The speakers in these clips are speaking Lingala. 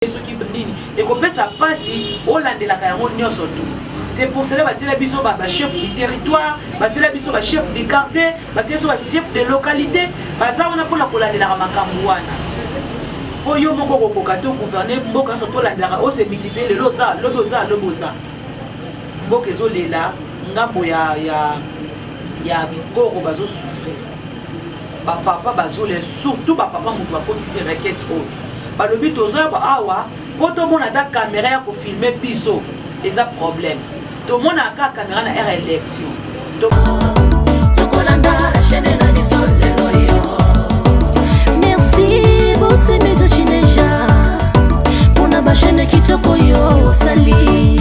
te soki nini ekopesa mpasi olandelaka yango nyonso tu c'est pour cela batiela biso bachef du territoire batiela biso bachef du quartier batiela biso bachef de localité baza wana mpona kolandelaka makambo wana mpo yo moko okokoka te ogouverne mboka nyonso tolandelaka ose multiplier lelo oza lobi oza lobi oza mboka ezolela ngambo ya ya ya bikoro bazosufrir ba papa bazolela surtout ba papa moto bakotisi requete oyo balobi tozoya awa mpo tomona ata kamera ya kofilme biso eza problème tomonaka kaka kamera na aire élection tokolanda chaine na biso lelo yo merci bosemedo chineja mpona bachaine kitoko yo osali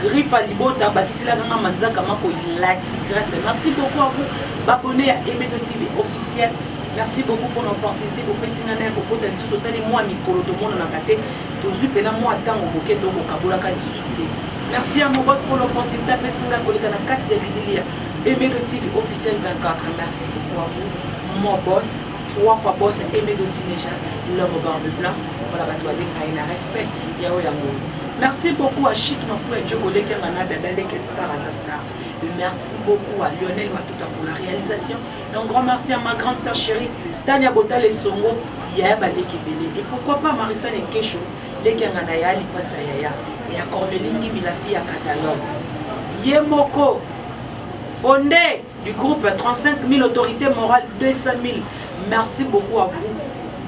Griffa libota bakiselaka nga manzaka mako ilati grace merci beaucoup à vous babone ya emedo tv officiel merci beaucoup mpona opportunité bopesi nga naye kokota lisusu tosali mwa mikolo tomonanaka te tozwi mpena mwa ntango moke tokokabolaka lisusu te merci ya mobos mpo l'opportunité apesi nga koleka na kati ya bibilia emedo tv officiel 24 merci beaucoup à vous mobos trois fois bos emedo tineja l'homme barbe blanc mpona bato babenga ye na reste pe yao ya ngolo merci beaucoup à chic makulu ya djogo leke nga na dada leke star aza star et merci beaucoup à lionel matuta pour la réalisation et un grand merci à ma grande sœur chérie tania bota lesongo yaya baleki ebele et pourquoi pas marisa nekesho leke nga na ya lipasa yaya ya corneli ngimi la fille ya catalogue ye moko fondé du groupe 35 000 autorités morales 200 000 merci beaucoup à vous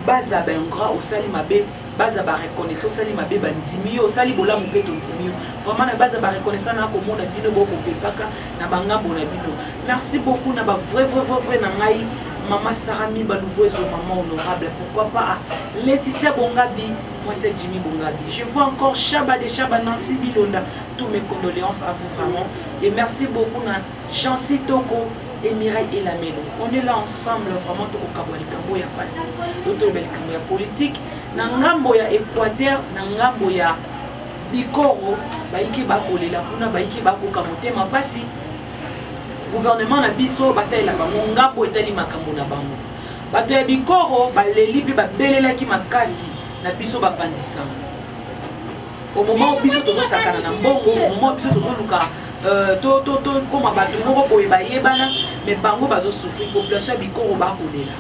baza baingra osali mabe baza ba reconnaissant osali mabe bandimi yo osali bolamu mpe tondimi yo vraiment na baza ba reconnaissant na komona bino bokopepaka na bangambo na bino merci beaucoup na ba vrai vrai vrai vrai na ngai mama sara miba nouveau ezo mama honorable pourquoi pas ah, laetitia bongabi mwasi ya jimmy bongabi je vois encore shaba de shaba nancy bilonda tous mes condoléances à vous vraiment et merci beaucoup na Jeancy Toko et Mireille Elamelo on est là ensemble vraiment tokokabwa likambo oyo ya mpasi oyo toloba likambo ya politike na ngambo ya Equateur na ngambo ya bikoro bayike bakolela kuna bayike bakoka motema mpasi gouvernement na biso batalela bango ngambo etali makambo na bango bato ya bikoro baleli mpe babelelaki makasi na biso bapanzisama au moment où biso tozo sakana na mbongo au moment où biso tozo luka euh, to to to koma bato moko boye bayebana mais bango bazo souffrir population ya bikoro bakolela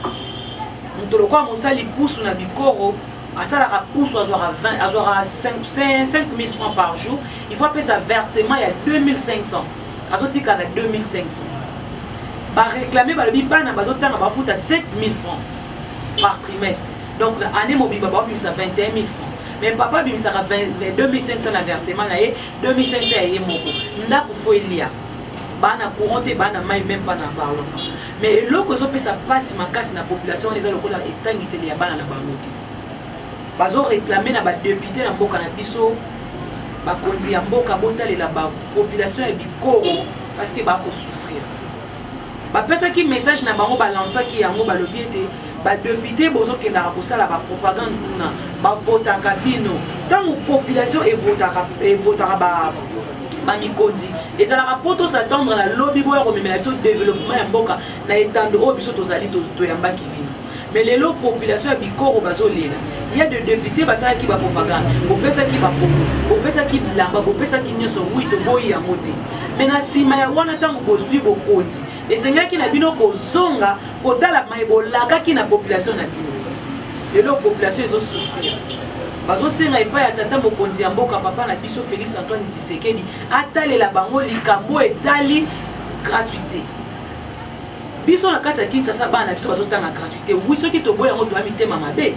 moto lokola mosali pusu na bikoro asalaka pusu azwaka 20 azwaka 5000 francs par jour il faut apesa versement ya 2500 azotika na 2500 bareklame balobi bana bazotanga bafuta 7000 francs par trimestre donc na année mobimba baobimisa 21000 francs mais papa abimisaka 2500 na versement na ye 2500 ya ye moko ndako fo elia baa na courant te baa na mai meme pas na parlon pas mais eloko ezopesa mpasi makasi na population wana eza lokola etangiseli ya bana na bango te bazoreklame na badepute na mboka na biso bakonzi ya mboka botalela bapopulation ya bikoro parceke bakosufrire bapesaki message na bango balansaki yango balobi ete badepute bozokendaka kosala bapropagande kuna bavotaka bino ntango population evotaka bamikonzi ezalaka mpo tosatendre na lobi boya komemela biso developpement ya mboka na etando oyo biso tozali toyambaki bino mais lelo population ya bikoro bazolela ya de depute basalaki bapropagande bopesaki bakongo bopesaki bilamba bopesaki nyonso wi toboyi yango te me na nsima ya wana ntango bozwi bokonzi esengelaki na bino kozonga kotala mai bolakaki na population na bino lelo population ezosufrir bazosenga epai ya tata mokonzi ya mboka papa na biso félix antoine tshisekedi atalela bango likambo etali gratuité biso na kati ya kinsasa bana na biso bazotanga gratuité wi soki toboyi yango toya mitema mabe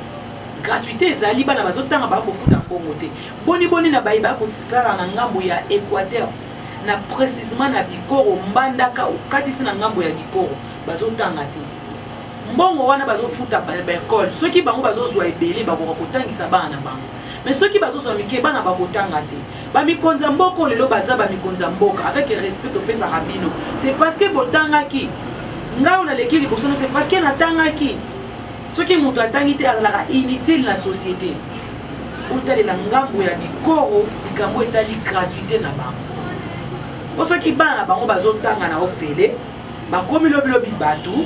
gratuité ezali bana bazotanga baya kofuta mbongo te boniboni na baye baya kotala na ngambo ya équateur na précisement na bikoro mbandaka okatisi na ngambo ya bikoro bazotanga te mbongo wana bazofuta baekole soki bango bazozwa ebele bakoka kotangisa bana na bango mais soki bazozwa mike bana bakotanga te bamikonzi ya mboka oyo lelo baza bamikonzi ya mboka avec respect topesaka bino c'est parce que botangaki ngai oyo naleki liboso no c'est parce que natangaki soki moto atangi te azalaka inutile na société botalela ngambo ya bikoro likambo etali gratuité na bango po soki bana na bango bazotanga na ofele Bakomi lobi lobi batu,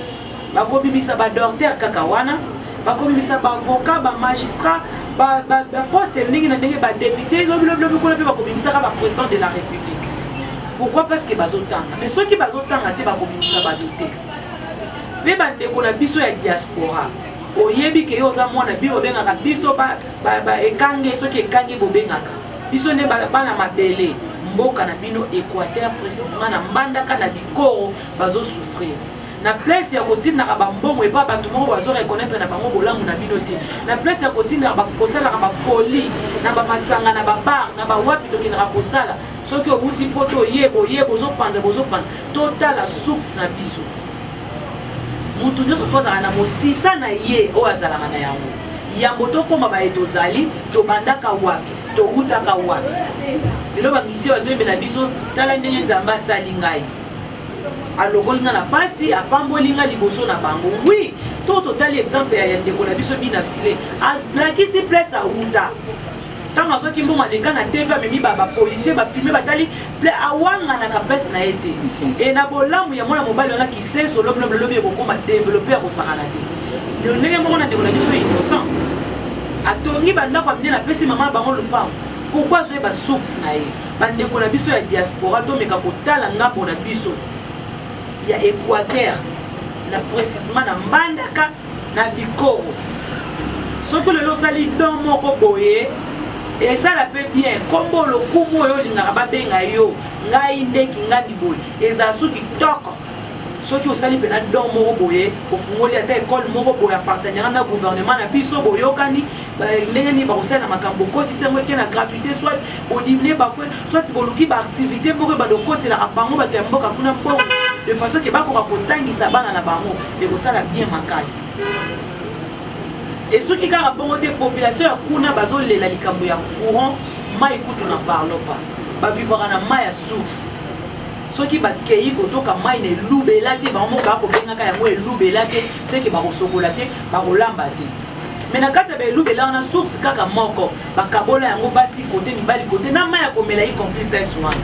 bakobimisa ba docteur kaka wana, bakobimisa ba avocat, ba magistrat, ba, ba, ba poste ndenge na ndenge, ba depute lobi lobi lobi kuna mpe bakobimisaka ba president de la republique. Pourquoi? Parce que bazotanga. Mais soki bazotanga te bakobimisa batu te. Mpe bandeko na biso ya diaspora oyebi ke yo oza mwana bino obengaka biso ba, ba, ba ekange soki ekange bobengaka Biso nde bana mabele, mboka na bino Equateur precisement na Mbandaka na Bikoro bazo souffrir. Na place ya kotindaka ba mbongo epa bato moko bazo reconnaître na bango bolamu na bino te. Na place ya kotindaka kosalaka ba folie na ba masanga na ba bar na ba wapi tokendaka kosala soki owuti poto oye boye bozopanza bozopanza totala source na biso. Moto nyonso mpo azalaka na mosisa na ye oyo azalaka na yango. Yambo tokoma baye tozali, tobandaka wapi? Towutaka wapi? Lelo bamisi bazoyembela biso, tala ndenge Nzambe asali ngai alokoli nga na pasi apamboli nga liboso na bango wi to totali exemple ya ndeko na biso bina file alakisi place awuta ntango azwaki mbongo aleka na tv amemi bapolisier bafilme batali ple awanganaka place na ye te e na bolamu ya mwana mobali wana kisenso lobi lobi lobi ekokoma develope ya kosakana te ndio ndenge moko na ndeko na biso innocent atongi bandako ya minene apesi mama na bango lopango pourkui azwa ye basource na ye bandeko na biso ya diaspora tomeka kotala ngambo na biso ya équateur na précisement na mbandaka na bikoro soki lelo osali don moko boye esala mpe bien nkombo lokumu oyo olingaka babenga yo ngai nde kingandi boye ezala so kitoko soki osali mpena don moko boye ofungoli ata ekole moko boye ya partenariat na gouvernement na biso boyokani ndenge nini bakosala na makambo okotisi yango eke na gratuité soit bodiminue bafue soit boluki baactivité moko ebanda okotelaka bango bato ya mboka kuna mpongo de façon ke bakoka kotangisa bana na bango ekosala bien makasi esuki kaka bongo te population ya kuna bazolela likambo ya courant mai kutu na parlon pa bavivaka na mai ya source soki bakei kotoka mai na elubela te bango moko bakobengaka yango elubela te seke bakosokola te bakolamba te me na kati ya baelubela wana source kaka moko bakabola yango basi kote mibali kote na mai ya komela y compris pes wana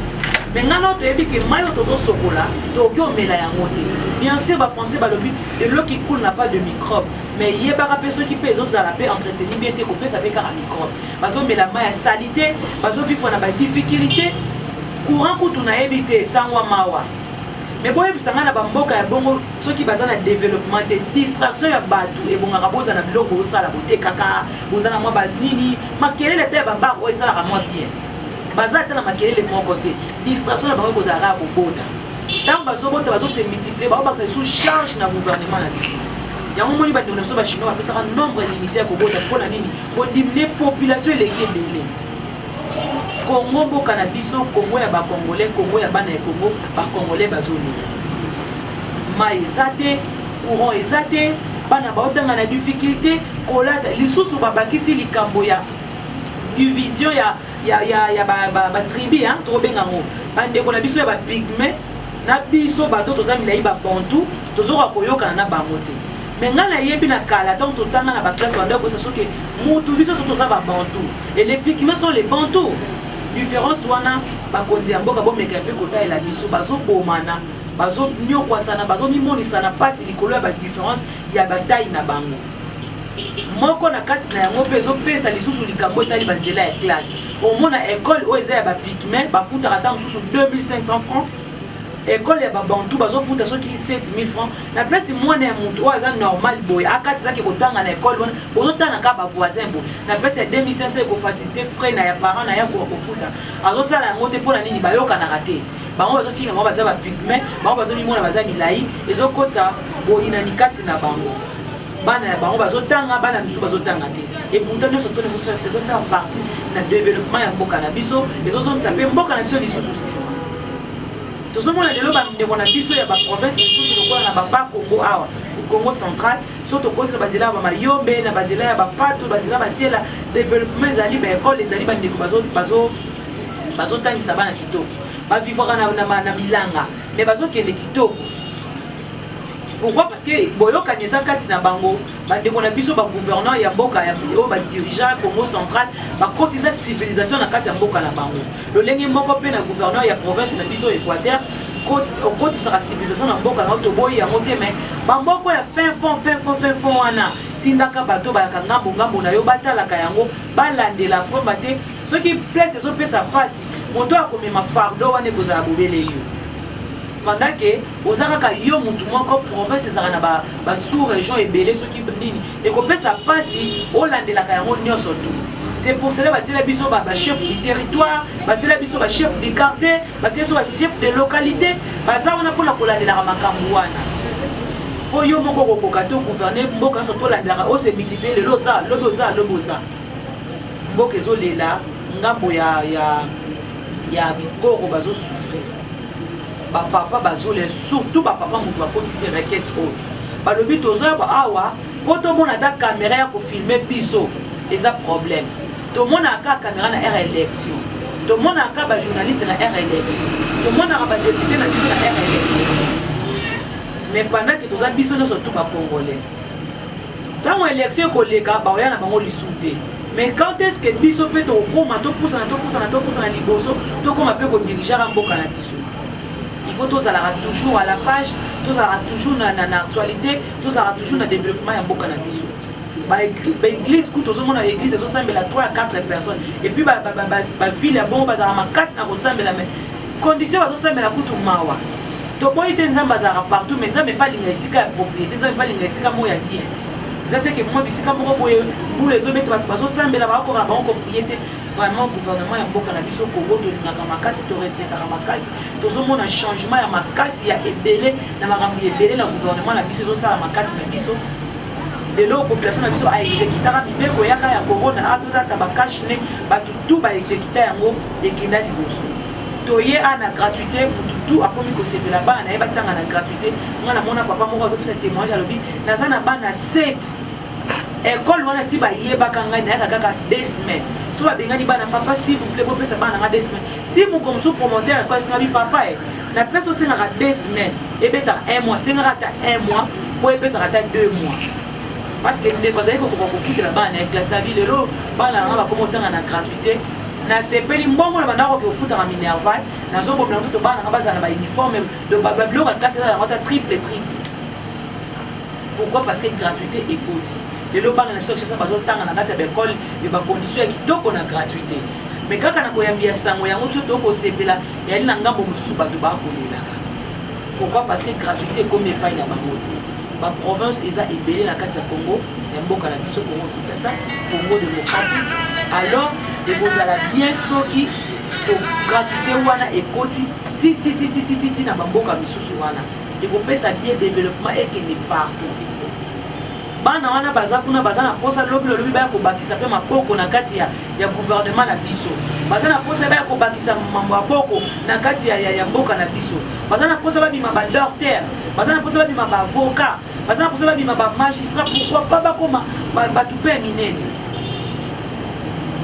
me ngai nao toyebi ke mai oyo tozosokola tokoki omela yango te bien sûr bafrançais balobi eloki cool na pas de microbe me yebaka mpe soki mpe ezozala mpe entreteni bien te kopesa mpe kaka microbe bazomela mai ya salite bazovivre na badifficulté courant kutu nayebi te esangwa mawa me boyebisa ngai na bamboka ya bongo soki baza na développement te distraction ya bato ebongaka bozala na biloko osala botekaka boza na mwa banini makelele te ya babar oyo esalaka mwa bien baza ata na makelele moko te distraction na bango kozala kaka kobota ntango bazobota bazose multiplier baobakisa lisusu charge na gouvernement na biso yango moni bandeko na biso bachinois bapesaka nombre limité ya kobota mpo na nini kodiminue population eleki ebele kongo mboka na biso kongo ya bakongolais kongo ya bana ya kongo bakongolais bazolela mai eza te courant eza te bana baotanga na difficulté Kolata lisusu babakisi likambo ya division ya, ya, ya, ya batribi ba, ba, ba tokobenga yango bandeko na biso ya bapigme na biso bato toza milai babantu tozoka koyokana na bango te me ngai nayebi na kala ntango totanga na baklasse bando ya koyesa soki motu biso so toza babantu e les pigme sont les bantu différence wana bakonzi ya mboka bomeka mpe kotalela biso bazobomana bazonyokwasana bazomimonisana mpasi likolo ya badifférence ya batai na bango moko na kati na yango mpe ezopesa lisusu likambo etali banzela ya classe omona ekole oyo eza ya bapigme bafutaka ata mosusu 2500 francs ekole ya babantu bazofuta soki 7000 francs na place mwana ya moto oyo aza normal boye akatisaki kotanga na ekole wana bozotanga kaka bavoisin boye na place ya 2500 ekofacilite frais na ya parent na ye akoka kofuta azosala yango te mpo na nini bayokanaka te bango bazofinga bango baza bapigme bango bazomimona baza milai ezokota boyinani kati na bango bana ya bango bazotanga bana misusu bazotanga te eputa nyonso to ezofaire partie na développement ya mboka na biso ezozongisa mpe mboka na biso lisusu nsima tozomona lelo bandeko na biso ya baprovince mosusu lokola na baba kongo awa congo central so tokosi na banzela ya bamayombe na banzela ya bapato banzela batiela développement ezali baekole ezali bandeko bazo bazotangisa bana kitoko bavivaka na, na, na, na bilanga me bazokende kitoko pourquoi parce que boyokani eza kati na bango bandeko na biso bagouverneur ya mboka ya oyo badirigea congo central bakotisa civilisation na kati ya mboka na bango lolenge moko mpe na gouverneur ya province na biso équateur okotisaka civilisation na mboka na yo toboyi yango te mai bamoko ya fin fond fin fond fin fond wana tindaka bato bayaka ngambo ngambo na yo batalaka yango balandela mpomba te soki place ezopesa mpasi moto akomema fardo wana ekozala bobele yo pendant ke oza kaka yo motu moko province ezalaka na basous région ebele soki nini ekopesa mpasi olandelaka yango nyonso tu c'est pour cela batiela biso bachef du territoire batiela biso bachef du quartier batiela biso bachef de localité baza wana mpona kolandelaka makambo wana mpo yo moko okokoka to gouverne mboka nyonso tolandelaka ose multiplier lelo oza lobi oza lobi oza mboka ezolela ngambo ya, ya, ya bikoro bazosufre bapapa bazolela surtout bapapa moto bakotisi requete oyo balobi tozoyaba awa mpo tomona ata kamera ya kofilme biso eza problème tomonaka kaka kamera na aire élection tomonaka bajournaliste na aire élection tomonaka badepute na biso na aire élection mais pendant ke toza biso nyonso tu bacongolais ntango election ekoleka baoya na bango lisusu te mais quand est ce que biso mpe tokokoma topusana topusana topusana liboso tokoma mpe kodirigeaka mboka na biso il faut tozalaka toujours à la page tozalaka toujours na, na, na actualité tozalaka toujours na développement ya mboka na biso baeglise kutu ozomona eglise ezosambela 3 à 4 personnes epuis bavile ya bongo bazalaka makasi na kosambela mais Condition bazo sambela kutu mawa. Toboyi te Nzambe azalaka partout mais Nzambe pa linga esika ya propriété, Nzambe pa linga esika mo ya bien. Eza te ke mwa bisika moko boye bula ezobeta bato bazosambela bakokaka bango koprie te vraiment gouvernement ya mboka na biso kongo tolingaka makasi torespectaka makasi tozomona changement ya makasi ya ebele na makambo ya ebele na gouvernement na biso ezosala makasi na biso lelo population na biso aexekitaka mibeko yaka ya corona atozata bakashne bato tu baexekita yango ekenda liboso toye a na gratuité mutu tu akomi kosepela bana na ye batanga na gratuité nga namona papa moko azopesa témoignage alobi naza na bana 7 ekole wana si bayebaka ngai nayaka kaka deux semaines so babengani bana papa s'il vous plaît bopesa bana nga deux semaines ti moko mosusu promoteur ekole esengabi papa e na place osengaka deux semaines ebetaka un mois sengaka ata un mois po epesaka ata deux mois parce que ndeko azali kokoka kofutela bana na ye classe na bi lelo bana na nga bakoma otanga na gratuité nasepeli mbongo na bandako oke ofutaka minerval nazobomela nzoto bana nanga bazala na bauniforme babiloko ya klase eza yango ata triple triple pourquoi parce que gratuité ekoti lelo bana na biso ya kishasa bazotanga na kati ya baekole me bakondition ya kitoko na gratuité me kaka na koyambi ya sango yango biso toyoko kosepela yali na ngambo mosusu bato bakolelaka pourquoi parce que gratuité ekomi epai na bango te Ba province eza ebele na kati ya Congo ya mboka na biso Congo Kinshasa, Congo démocratique. Alors ekozala bien soki to gratuité wana ekoti ti ti ti ti ti ti na ba mboka misusu wana ekopesa bien développement ekende partout. Bana wana baza kuna baza na posa lobi lobi baya kobakisa pe maboko na kati ya ya gouvernement na biso baza na mposa baya kobakisa mambo ya boko na kati ya, ya, ya mboka na biso baza na mposa babima badokter baza na mposa babima baavocat baza na mposa babima bamagistrat pourkoi pa bakoma bato mpe ya minene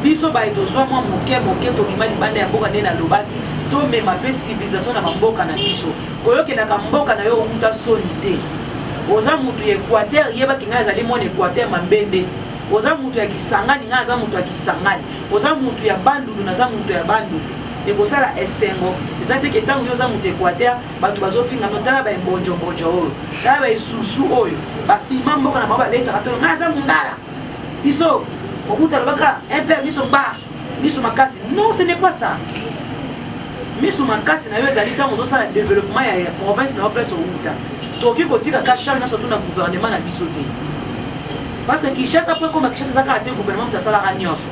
biso baye tozwa mwa moke moke tobima libanda ya mboka nde nalobaki tomema mpe civilisation na bamboka na biso koyokelaka mboka na yo outa soni te oza motu ya equateur yebaki ngai azali mwana equateur mambende oza mutu ya kisangani nga aza mutu ya kisangani oza mutu ya bandundu naza mutu ya bandundu ekosala esengo eza te ke ntango yo oza moto equateur bato bazofinga no tala baebonjobonjo oyo tala baesusu oyo bapima mboka na bango babetaka tolo ngai aza mongala biso okuta lobaka mpe biso ba misu makasi non ce n'est pas ça misu makasi na yo ezali ntango ozosala développement ya province na yo place owuta tokoki kotika ka charge nyonso tuna gouvernement na biso te parce que kinshasa mpo ekoma kinshasa eza kaka te gouvernement moto asalaka nyonso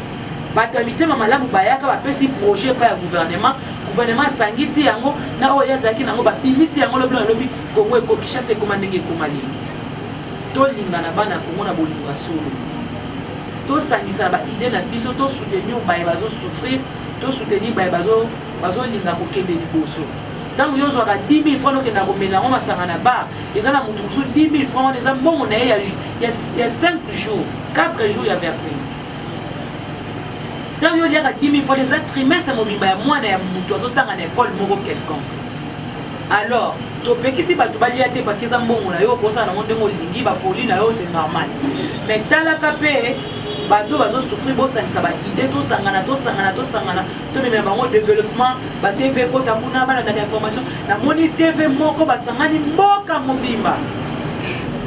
bato ya mitema malamu bayaka bapesi projet epai ya gouvernement gouvernement asangisi yango na oyo ye azalaki nango babimisi yango lobi na lobi kongo eko kinshasa ekoma ndenge ekoma lelo tolingana bana kongo na bolingo ya solo tosangisa ba idee na biso to soutenir baye bazo souffrir to soutenir baye bazo bazolinga kokende liboso ntango yo ozwaka 10 000 franc okenda komela yango masanga na bar eza na moto mosusu 10 000 franc wana eza mbongo na ye ya 5 jours 4 jours ya versement ntango yo oliaka 10 000 franc eza trimestre mobimba ya mwana ya moto azotanga na ekole moko quelconque alors topekisi bato balia te parce que eza mbongo na yo okosala nango ndenge olingi bafoli na yo c'est normal mais talaka mpe bato bazosufri bosangisa baide tosangana tosangana tosangana tomemela bango développement batv ekota kuna balandaka information namoni tv moko basangani mboka mobimba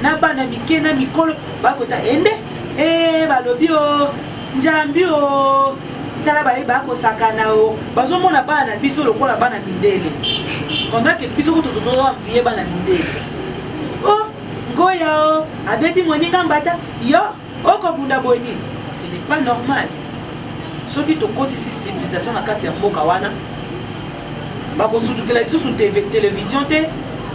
na bana mike na mikolo bakota ende ee eh, balobi o oh, njambi o oh. tala baye baya kosakana o bazomona bana na biso lokola bana mindele ondake biso kutu totoamviye bana mindele o oh, ngoya o oh, abeti moninga mbata yo okobunda boye nini ce n'est pas normal soki tokotisi civilisation na kati ya mboka wana bakosutukela lisusu televizio te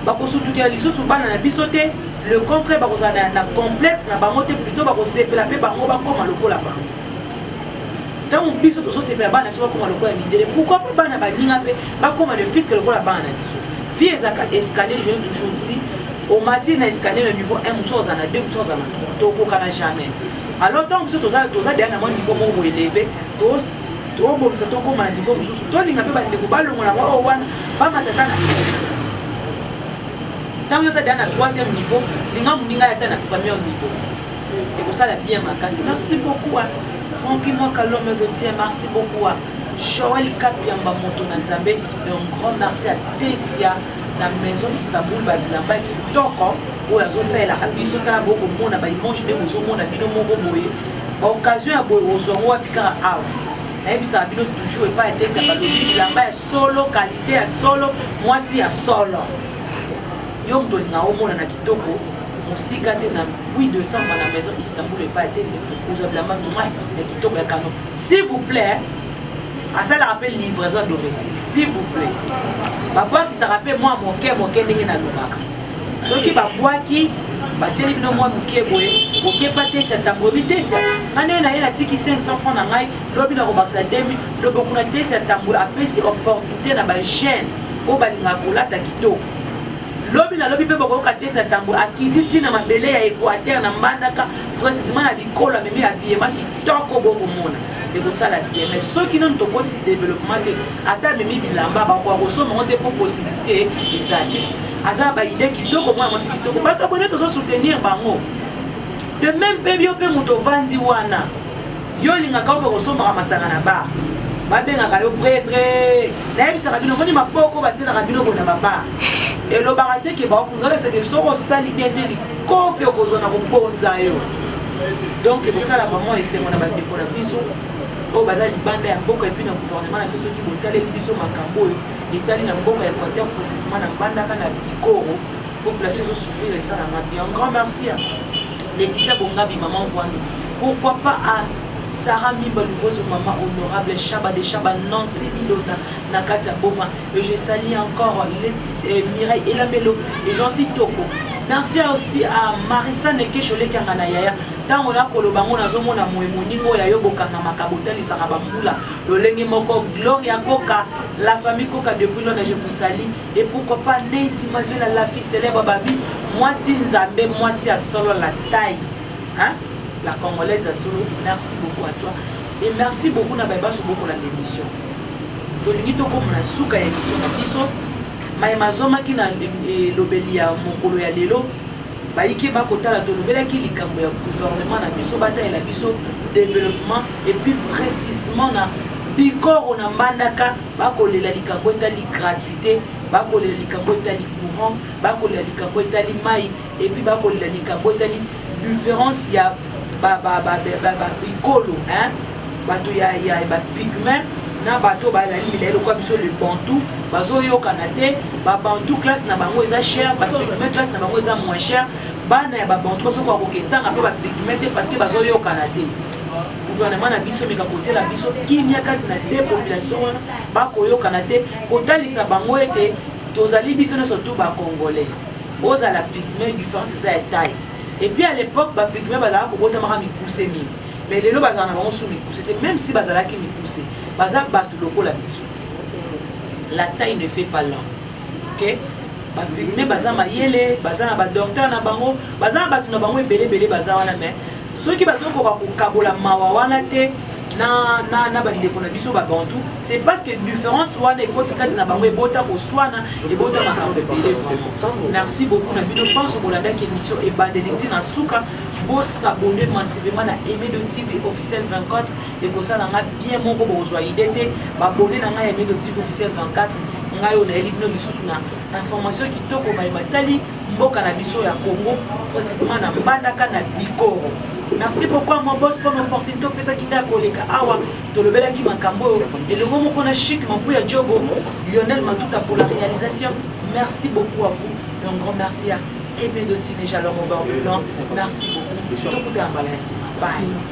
bakosutukela lisusu bana na biso te le contraire bakozala na complexe na bango te plutôt bakosepela mpe bango bakoma lokola bango ntango biso tozosepela bana biso bakoma lokola mindele pourkoi mpe bana baninga mpe bakoma le fiske lokola bana na biso vie ezalaka escalier je toujours dit omati na escalier na niveau 1 mosusu ozala na 2 mosusu ozala na 3 tokokana jamais alors ntango biso toza deya na mwa niveau moko boeleve tobongisa tokoma na niveau mosusu tolinga mpe bandeko balongola mwa oyo wana bamatata na ntango yoza deya na troisième niveau linga moninga ya ata na première niveau ekosala bien makasi merci beaucoup hein. franki mwaka l'homme de dieu merci beaucoup hein. joel kapiamba moto na nzambe et un grand merci à tesia na maison istanbul babilamba kitoko oyo azosalelaka biso tala bokomona baimage nde bozomona bino moko boye baoccasion ya boye ozwa ngo wapi kaka awa nayebisaka bino toujours epai ya tesia balobi bilamba ya solo kalite ya solo mwasi ya solo yo moto olinga omona na Toko mosika te na 8 décembre na maison Istanbul epa ya tese ozwa bilamba mwa ya kitoko ya kano s'il vous plaît asalaka mpe livraison ya domicile s'il vous plaît babwakisaka mpe mwa moke moke ndenge nalobaka soki babwaki batieli bino mwa moke boye okeba tesia ntango oyebi tesia nga ndenge naye natiki 500 franc na ngai lobi nakobakisa demi lobo kuna tesia ntango apesi opportunité na bajeune oyo balingaka kolata kitoko lobi na lobi mpe bokoyoka te satambwe akiti ti na mabele ya equateur na mbandaka precisement na bikolo amemi abiyema kitoko bokomona ekosala bien mais soki nanu tokotisi développement te ata amemi bilamba bakoka kosomba yango te mpo possibilité eza te aza baide kitoko mwana mwasi kitoko bato abone tozo soutenir bango de même mpe yo mpe moto ovandi wana yo olingaka oke kosombaka masanga na bar babengaka yo pretre nayebisaka bino moni maboko batielaka bino boye na babar elobaka te ke baokunzala seke soki osali bien te likofi okozwa na kobonza yo donc ekosala vraiment esengo na bandeko na biso oyo baza libanda ya mboka epuis na gouvernement na biso soki botaleli biso makambo oyo etali na mboka ya equateur précisement na mbandaka na bikoro population ezosouffrir esalanga bien grand merci Laetitia Bongabi maman Vuando pourquoi pas à Sarah Mimba Lugozo maman honorable Shaba de Shaba Nancy Milona na kati ya boma et je salue encore Laetitia euh, Mireille Elamelo et j'en suis toko merci aussi à Marissa Nekesho lekanga na yaya ntango nakoloba yango nazomona moye moninga oyo ayo bokangamaka botalisaka bambula lolenge moko gloria koka la famille koka depuis lona je vous salie Et pourquoi pas Neiti Mazuela la fille célèbre Babi Mwasi Nzambe Mwasi ya solo la taille hein? La congolaise ya solo Merci beaucoup à toi Et merci beaucoup na bayebaso boko na l'émission Tolingi tokoma na suka ya émission na biso maye mazwamaki na elobeli eh, ya mokolo ya lelo bayike bakotala tolobelaki likambo ya gouvernement na biso batalela biso développement et puis précisement na bikoro na mbandaka bakolela likambo etali gratuité bakolela likambo etali courant bakolela likambo etali mai epuis bakolela likambo etali différence ya bikolo bato ya bapigment na bato oyo balali milai lokola biso le bantu bazoyokana te babantu classe na bango eza cher bapigment classe na bango eza moins cher bana ya babantu bazokoka koketanga mpe bapigment te parce que bazoyokana te gouvernement na biso meka kotiela biso kimia kati na de population wana bakoyokana te kotalisa bango ete tozali biso nyonso tu bacongolais ozala pigme différence eza ya taille epuis à l'époque bapigme bazalaka kobotamaka mikuse mingi mais lelo bazala na bango su mikuse te même si bazalaki mikuse baza bato lokola biso la taille ne fait pas l'homme ok bapigme baza mayele baza na badocteur na bango baza na bato na bango ebele ebele baza wana mais soki bazokoka kokabola mawa wana te na, na, na bandeko na biso babantu c'est parce que différence wana ekoti kati na bango ebota koswana ebota makambo ebele vraiment merci beaucoup na bino mpanso bolandaki émission ebandeli ntina na suka bosabone massivement na emedo tv officiel 24 ekosala nga bien moko bokozwa ide te babone na ngai ya emedo tv officiel 24 ngai oyo nayeli bino lisusu na information kitoko baye matali mboka na biso ya Congo précisément na Mbandaka na Bikoro. Merci beaucoup à mon boss pour l'opportunité opesaki ngai ya koleka awa tolobelaki makambo oyo elongo moko na chic mampu ya jogo Lionel Matuta pour la réalisation merci beaucoup à vous et un grand merci à Aimé Dotine Jalongo Barbe Blanc merci beaucoup tokutana mbala ya nsima bye